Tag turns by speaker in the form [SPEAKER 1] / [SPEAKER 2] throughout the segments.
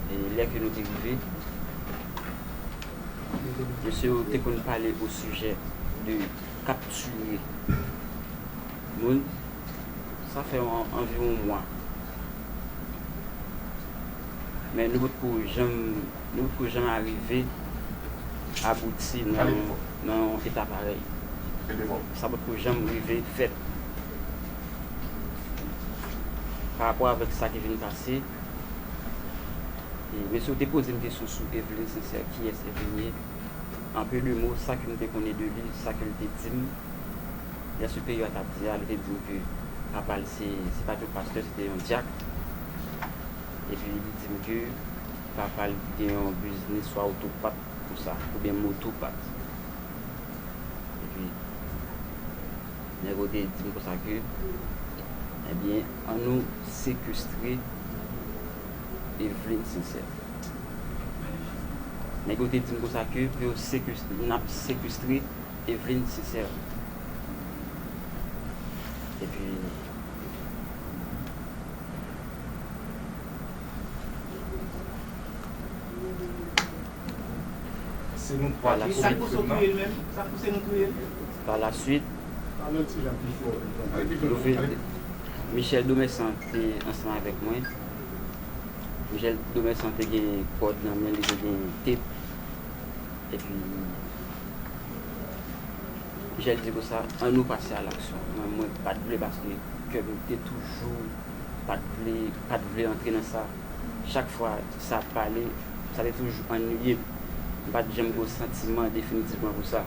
[SPEAKER 1] E lè ke nou te rive, mesye yo te konn pale o sijè de kaptire moun. Sa fè anviwon mwa. Men nou potko janm, nou potko janm arive abouti nan yon eta parèy. Sa potko janm rive fèt. pa rapò avèk sa ki vin pase e mesye ou te poze m kesyon sou Evelyne Sincère kiyès Evelyne ye en peu de mot sa ke m te konnen de li sa ke l te di m lè siperyè a t ap di a li te di m ke papa l se se pa te yon pastè se te yon dyak epi li di m ke papa l gen yon biznis swa oto pat konsa oubyen moto pat epi. Nèg yo te di m konsa ke, Ebyen, an nou sekestre Evelyne Sincère. Nèg yo te di m konsa ke pou yo sekestre, n ap sekestre Evelyne Sincère. Epi, Se nou 3 ki kouri krim nan.
[SPEAKER 2] Pa la suit,
[SPEAKER 1] Michel Domessan te ansanm avèk mwen. Michel Domessan te gen kòd nan men li, te gen tep. Epi, Michel di konsa, an nou pase a laksyon. Men mwen pa t vle paske kè m te toujou pa t vle, pa t vle antre nan sa. Chak fwa sa ap pale, sa te toujou anniye m. M pa t janm gen yon santiman definitivman pou sa.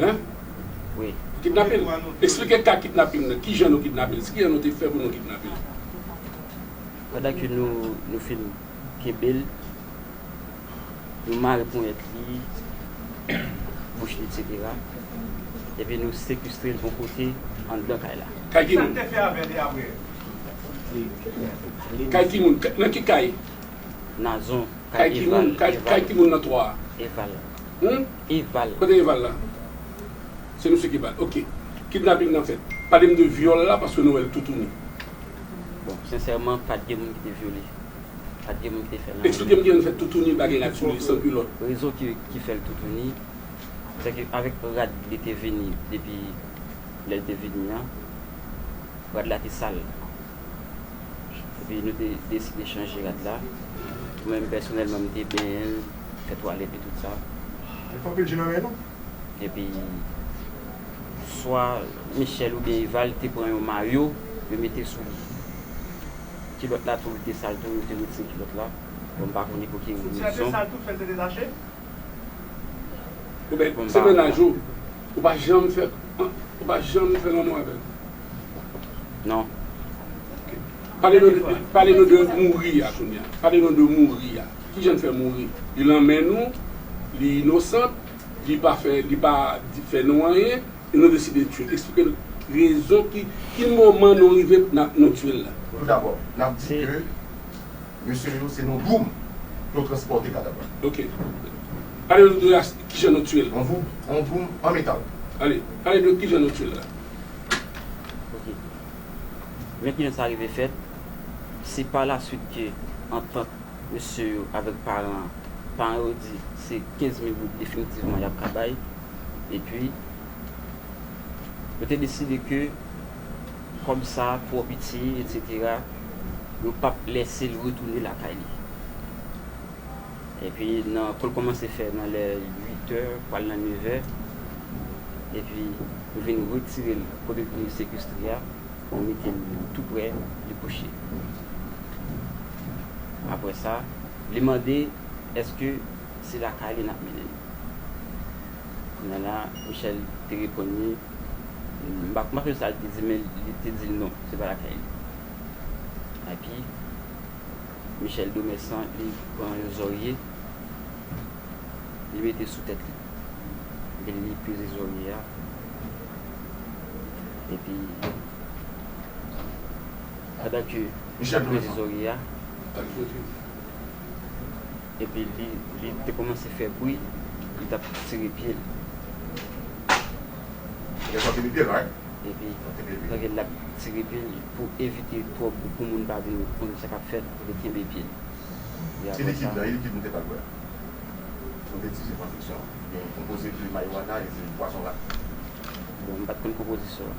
[SPEAKER 3] Hein?
[SPEAKER 1] Wi. Kidnape
[SPEAKER 3] l? Esplike ka kidnaping nan, kijan nou kidnape l, skijan nou te fè pou nou kidnape l?
[SPEAKER 1] Pandan ke nou, nou fin kenbe l, nou mare ponyèt li, bouch li eksetera, epi nou sekestre l yon kote anndan kay la. Kay ki moun? Kisa n te fè
[SPEAKER 2] avè li apre?
[SPEAKER 3] Kay ki moun? Nan ki kay? Nazon,
[SPEAKER 1] kay Eval, Eval.
[SPEAKER 3] Kay ki moun nan 3 a? Eval.
[SPEAKER 1] Eval. Kote eval la?
[SPEAKER 3] Se misye ki bal. Ok. Kidnaping nan fèt. Pale m de vyòl la paske nou wè l toutouni. Bon,
[SPEAKER 1] sensèman pat gen moun ki te vyole. Pat gen moun ki te fè nan. Eksplike m kijan fè toutouni
[SPEAKER 3] bagay rad sou li, san kilòt. Rezon ki fè
[SPEAKER 1] l toutouni, se ke avèk rad li te vini depi lè l te vini an, rad la te sal. Epi nou te deside chanje rad la. Mwen menm pèsonèlman m te benyen l. Fè twalèt e tout sa. Li pa anpil je
[SPEAKER 4] nan lè non. Epi
[SPEAKER 1] swa Michel oubyen Eva li te pran yon mayo yo mete sou li. Kilòt la tou li te sal tou yo te retire kilòt la. Bon m pa konnen pou ki rezon. Soutyen te sal tou fèl te
[SPEAKER 2] detache?
[SPEAKER 3] Oubyen se mennaj ou, ou pa janm fè ou pa janm fè lanmou avèl?
[SPEAKER 1] Non. Ok.
[SPEAKER 3] Pale nou de mouri a kounya. Pale nou de mouri a. Kijan l fè mouri? Li lanmè nou, li inosant, li pa fè li pa fè nou anyen e nou deside tye l. Eksplike l rezon ki ki moman nou rive pou nan nou tye l la. Pou toudabò, n ap di
[SPEAKER 4] ke mesye yo se nou doum pou yo transpòte kadav la. Ok.
[SPEAKER 3] Pale nou de as kijan nou tye l. On voum, on doum
[SPEAKER 4] an metal. Ale, pale de
[SPEAKER 3] kijan nou tye l la.
[SPEAKER 1] Ok. Men kijan sa rive fèt, se pa la swit ke antant. mesye yo avèk paran an. Paran yo di se 15 mil goud definitivman y ap ka bay. Epi, yo te deside ke kòb sa a twò piti, etsetera, yo p ap lèse l retounen lakay li. Epi, nan kou l kòmanse fè nan lè uitè, pral nan nevè, epi yo vin retire l kote l te sekestre a, yo mete l toupre li kouche. Apre sa, li mande èske se lakay li n ap mennen nou. Kounya la, Michèl te reponn li, m pa konn sa li te di men li te di l non, se pa lakay li. Epi, Michèl Domèsan li pran yon zòrye, li mete sou tèt li. Epi li peze zòrye a. Epi, pandan ke. Misye pran ti zòrye
[SPEAKER 4] a
[SPEAKER 1] epi li te kòmanse fè bri li t ap tire pye l.
[SPEAKER 4] Epi
[SPEAKER 1] lè l ap tire pye l pou evite twòp pou moun pa vin konnen sa k ap fèt li kenbe pye l. Epi apre
[SPEAKER 4] sa. Bon
[SPEAKER 1] m pa t konn konpozisyon an.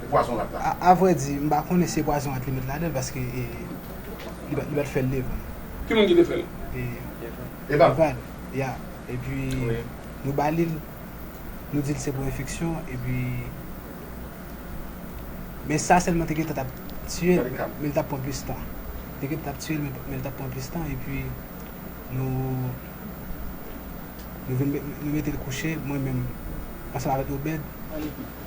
[SPEAKER 5] pou
[SPEAKER 4] pwazon rat la. A vrè di, m pa
[SPEAKER 5] konnen si e pwazon rat li met ladan l paske e li pa t fè l devan. Ki moun ki te
[SPEAKER 3] fè l? E.
[SPEAKER 4] Eval. Ya.
[SPEAKER 5] Epi nou ba li l, nou di l se pou enfeksyon epi men sa sèlman te gentan t ap tiye l men l t ap pran plis tan. Te gentan t ap tiye l men l t ap pran plis tan epi nou nou vin nou mete l kouche mwen menm ansanm avèk Obèd.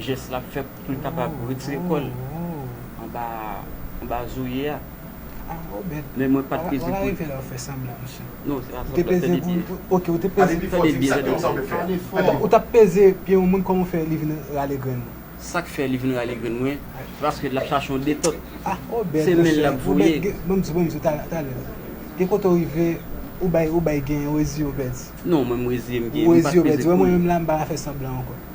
[SPEAKER 1] jès lap fè poul kapab retire kòl anba anba zoye a
[SPEAKER 5] men mwen pat peze
[SPEAKER 1] poul
[SPEAKER 5] non se pa sanblan tande byen tande byen
[SPEAKER 4] tande byen ou tap peze
[SPEAKER 5] pye yon moun kòman ou fè li vin rale grenn ou sak fè li vin
[SPEAKER 1] rale grenn mwen se paske lap chache yon detòt se
[SPEAKER 5] menl
[SPEAKER 1] lap voye
[SPEAKER 5] gen kote ou rive ou bay ou bay gen ou reziye ou pèdi non mwen m reziye
[SPEAKER 1] m gen mwen
[SPEAKER 5] pat peze poul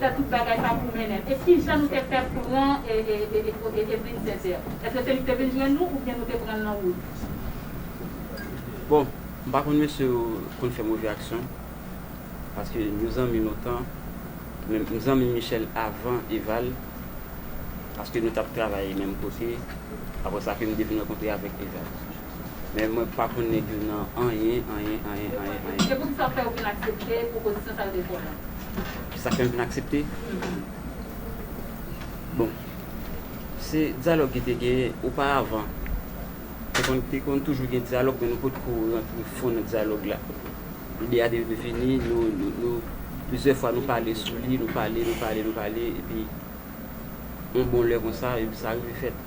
[SPEAKER 6] fè tout bagay sa pou mennen e ki jan nou te fè pran Evelyn Sincère? Eske se li ki te vin jwenn nou oubyen nou te pran l nan wout?
[SPEAKER 1] Bon, m pa konn mesye yo konn fè move aksyon paske nou zanmi lontan men m zanmi Michel avan Eval paske nou t ap travay menm kote apre sa ke m te vin rankontre avèk Eval. Men mwen pa konn nèg yo nan anyen, anyen, anyen, anyen, anyen.
[SPEAKER 6] Se poutisa w fè ou vin aksepte pwopozisyon sa yo te fè w lan? Sa fè m vin
[SPEAKER 1] aksepte? Bon, se dyalòg ki te genyen oparavan. Te konn toujou gen dyalòg, men nou potko rantre fon nan dyalòg la. Ide a te vini, nou, plizyè fwa nou pale sou li, nou pale, nou pale, nou pale, epi yon bon lè konsa, epi sa rive fèt.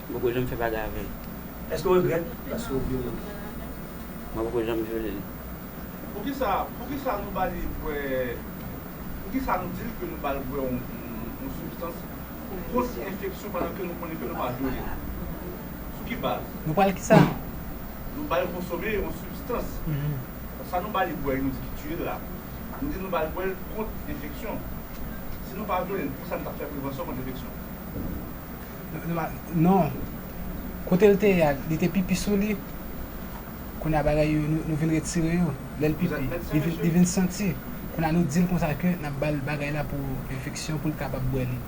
[SPEAKER 7] M poko janm fè
[SPEAKER 1] bagay avè l. Èske w regrèt paske w vyole l?
[SPEAKER 7] Mwen
[SPEAKER 1] poko janm vyole l. Poukisa
[SPEAKER 2] poukisa nou ba li bwè poukisa nou di l ke nou ba l bwè yon sibstans pou kont enfeksyon pandan ke nou konnen ke nou pa vyole l? Sou ki baz? Nou pral kisa?
[SPEAKER 5] Nou ba l
[SPEAKER 2] konsome yon sibstans. Sa nou ba li bwè nou di ki tiye l la, nou di nou ba l bwè l kont enfeksyon. Si nou pa vyole l, poukisa nou t ap fè prevansyon kont enfeksyon?
[SPEAKER 5] Non. Kote l te ye a, li te pipi sou li. Kounye a bagay yo, nou vin retire yo. Lè l pipi, li vin santi. Kounye a nou di l konsa ke n ap ba l bagay la pou enfeksyon pou l kapab bwè li.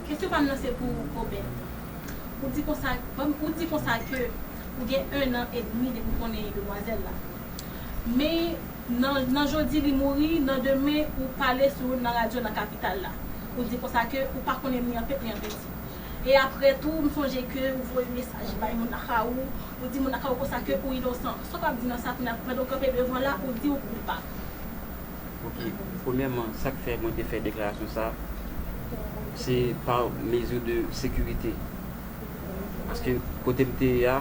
[SPEAKER 5] Kesyon pa m nan
[SPEAKER 8] se pou ou Kobè. Ou di konsa, ou di konsa ke ou gen ennan edmi depi w konnen demwazèl la. Men. Nan nan jodi li mouri, nan demen ou pale sou nan radyo nan kapital la. Ou di konsa ke ou pa konnen ni an pete ni an penti. E aprè tou m sonje ke ou voye mesaj bay moun nan ka ou, ou di moun nan ka ou konsa ke ou inosan. Sa w ap di nan sa kounye a pandan ou kanpe devan la ou di ou koupab? Ok,
[SPEAKER 1] premyèman sa k fè mwen te fè deklarasyon sa se pa mezi de sekirite. Paske kote m te ye a.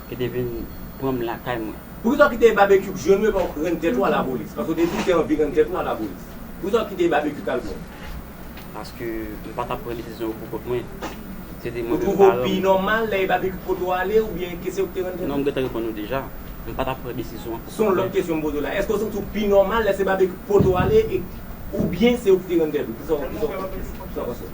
[SPEAKER 1] Yo te vin pran m lakay mwen. Poukisa w kite babekyou
[SPEAKER 9] k jwenn yo epa w k rann tèt ou a la polis? Paske w te di w te anvi rann tèt ou a la polis. Poukisa w kite babekyou k al pran w? Paske
[SPEAKER 1] m pa tap pran desizyon yo pou kont mwen. Se te mwen menm paran
[SPEAKER 9] m. Ou twouve w pi nòmal lè e babekyou k pote w ale oubyen ke se ou k te rann tèt ou? Non m gentan reponn ou deja.
[SPEAKER 1] M pa tap pran desizyon an pou kont mwen. Se yon lòt kesyon m poze
[SPEAKER 9] w la. Èske w santi w pi nòmal lè se babekyou k pote w ale e oubyen se ou k te rann tèt ou? Kisa w panse?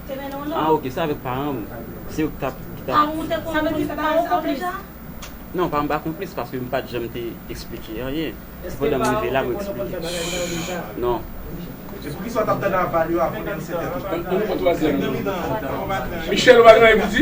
[SPEAKER 8] Ah ok se avèk paran ou,
[SPEAKER 1] se yo ki tap. Sa vle di pa ou
[SPEAKER 8] konplis? Non pa m pa
[SPEAKER 1] konplis paske m pat janm te eksplike anyen. Se pandan m rive la mwen eksplike. Non.
[SPEAKER 3] Michel ou pa gen anyen pou di?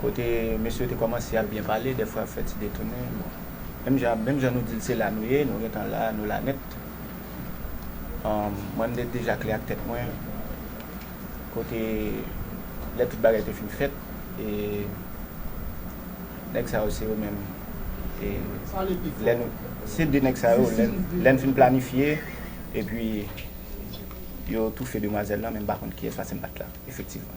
[SPEAKER 10] Kote mesye yo te kòmanse ap byen pale, dèfwa ap fè ti detounen, bon. Menm jan, menm jan nou di l se la nou ye, nou gen tan la, nou la nèt. Mwen m te deja klè ak tèt mwen, kote lè tout bagay te fin fèt, e nèg sa yo se yo menm, e lè nou, se de nèg sa yo, lè n fin planifye, epi yo toufe demwazèl lan, men m pa konn kiyès paske m pa t la, efektivman.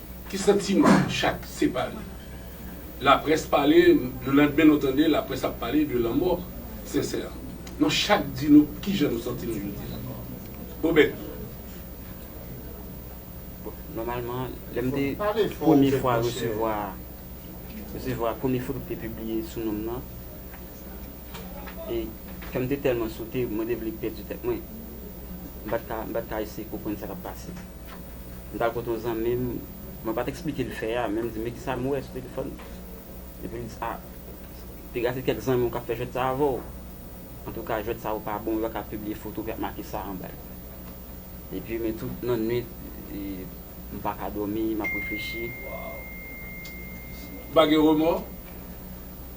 [SPEAKER 3] Ki santi nou chak separe. Laprès pale, le landmen nou tande laprès ap pale de lanmò Sensè. Nou chak di nou kijan nou santi nou jodi a. Obed.
[SPEAKER 1] Bon, nòmalman, lè m te premye fwa resevwa, resevwa premye foto ki te pibliye sou non m nan. e kè m te tèlman sote, mwen te vle pèdi tèt mwen. M pa t ka, m pa t ka eseye konprann sa k ap pase. M t al kote yon zanmi m, mwen pa t eksplike l fè a, men m di, men ki sa m wè sou telefòn nan? Epi l di, a, piga se kèk zanmi w k ap fè jwèt sa a avè w. Antouka, jwèt sa yo pa bon, yo pa ka pibliye foto ki ap make sa anba yo. Epi, men tout nannuit, m pa ka dòmi, m ap reflechi.
[SPEAKER 3] Ou pa gen remò?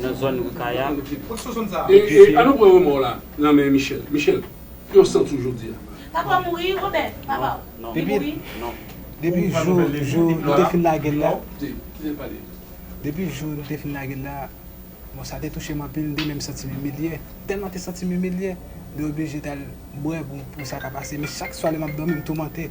[SPEAKER 1] nan zòn Ri Kay a. E
[SPEAKER 3] an nou pran remò la nan men Michel. Michel, yon san tou jodi a. Papa w mouri,
[SPEAKER 8] Robert?
[SPEAKER 1] Papa
[SPEAKER 5] w? Non. Li mouri? Non. Depi jou nou te fin lage l la. Kite l pale. Depi jou nou te fin lage l la, bon sa te touche m anpil, m te menm santi m imilye. Tèlman m te santi m imilye, m te oblije t al bwè pou sa ka pase. Men chak swa lè m ap dòmi, m toumante.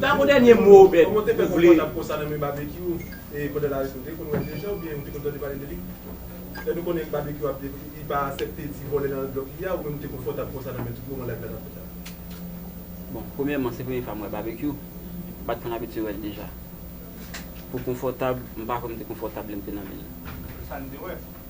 [SPEAKER 9] Dapre dènye mo Obed,
[SPEAKER 2] ou vle.
[SPEAKER 1] Bon, premyèman, se premye fwa m wè Babekyou. M pa t konn abitye wè l deja. Pou konfòtab, m pa kwè m te konfòtab lè m te nan men l.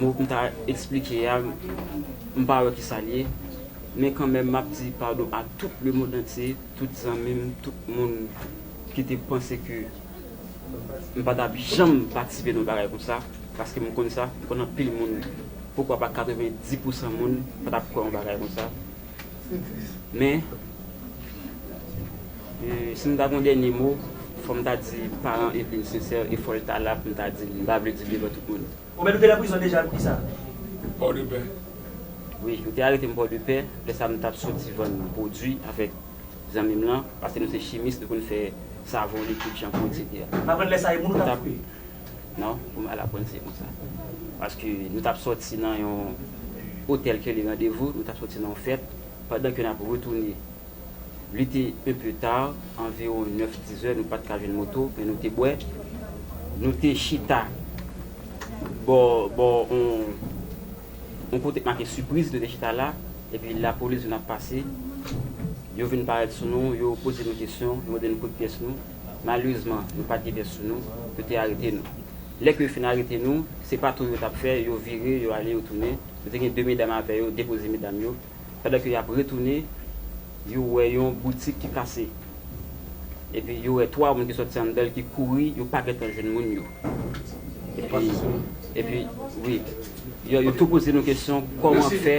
[SPEAKER 1] Mo m ta esplike a, m pa wè ki sa l ye. Men kanmenm m ap di padon a tout lemond antye, tout zanmi m, tout moun ki te panse ke m pa t ap janm patisipe nan yon bagay konsa. Paske m konn sa, m konn anpil moun, poukwa pa 90 pousan moun pa t ap kwè yon bagay konsa. Men, si m ta gen yon dènye mo, fò m ta di paran Eveline Sincère e fò l ta la pou m ta di l. M pa vle di l devan tout moun. Ou menm nou te nan prizon deja
[SPEAKER 7] pou kisa?
[SPEAKER 3] Pòdepè. Wi, yo
[SPEAKER 1] te arete m Pòdepè. Lè sa m t ap soti vann pwodui avèk zanmi m lan. Paske nou se chimis, nou konn fè savon, likid, chanpou, eksetera. M aprann lè sa e moun ou t
[SPEAKER 7] ap koupe? Non,
[SPEAKER 1] pou m al aprann se konsa. Paske nou t ap soti nan yon otèl ke li randevou, nou t ap soti nan yon fèt, pandan ke n ap retounen, li te un peu tard, anviwon 9, 10 è, nou pa t ka jwenn moto, men nou te bwè, nou te chita bò, bò on, on kote k make Surprise, nou te chita la, epi lapolis vin ap pase, yo vin parèt sou nou, yo poze nou kesyon, yo mande nou kot pyès nou. Malerezman, nou pa t gen bèf sou nou, yo te arete nou. Lè ke yo fin arete nou, se pa tou yo t ap fè, yo vire, yo ale, yo tounen. Yo te gen de medam avè yo, depoze medam yo. Pandan ke y ap retounen, yo wè yon boutik ki kase. Epi yo wè twa moun ki sòti anndan l ki kouri, yo pa gen tan jwenn moun yo. Epi, epi, wi. Yo tou poze nou kesyon, kòman fè.